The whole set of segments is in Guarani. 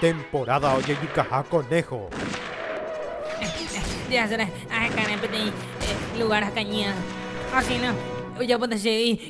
Temporada ojejukaha conejo. Jasre ahekare peteĩ lugár hakañýa, asína ojapo che y.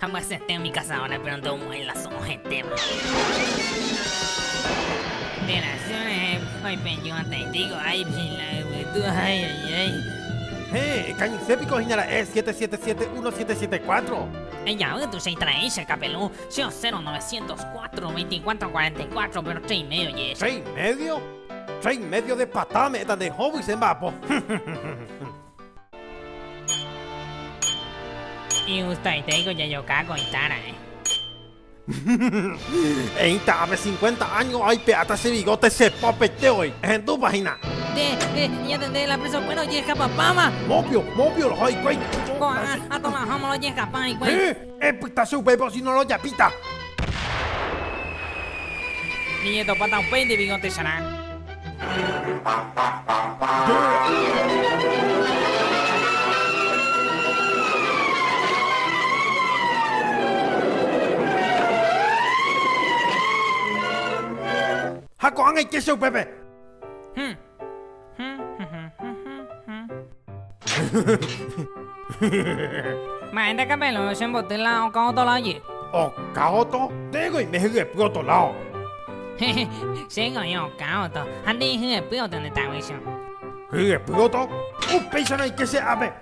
Ambyasete umi cazadora péro ndomo'ãi la so'o hetéva. Nde rasy rehe oipeju'atãitei ko'ã ipila yvytu aijei. Héẽ, kañyse piko hína ra'e 777174. Ejavy tuicha itraei che kapelu, che osero 904 2444 péro che imédio oje'e che. Che imédio? Che imédio de pata ame'ẽta nde hovy che mba'apo. Igustoitéiko jajoka ko ita raẽ. Eita ape cincuenta año aipe'áta che bigote che popeite voi. Ehendúpa hina. Nde, nde, ñatende la presa okuéra ojehekapapáva. Mopio, mopio roho hikuái. Ko'ágã, atomaháma la ojehekapa hikuái. Epyta che upépe osino rojapíta. Niñetopáta upéinte bigõ techarã. Ha ko'ág̃a ike che upépe. Mba'e nde kapelõ chemboty la okã otola oje. Okã oto? Ndéiko oime hyepy otolao. Chéngo oĩ okã oto ha nde ihyepy oto nde taguicho. Hyepy oto? Upéicha noike che ápe.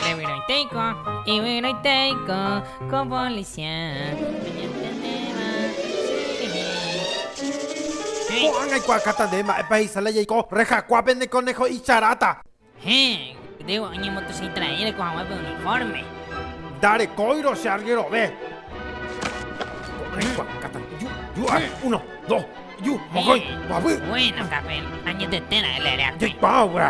Ndevyroitéiko, yvyroitéiko. Ko'ág̃a aikuaákata nde mba'épa he'isa la jaiko rehakua pene koneho icharáta. Ndarekóirõ che argerove. Ko'ág̃a aikuaákata ju, ju ha uno, dos, ju, mokõi, mboapy. Jaikuaa guéra.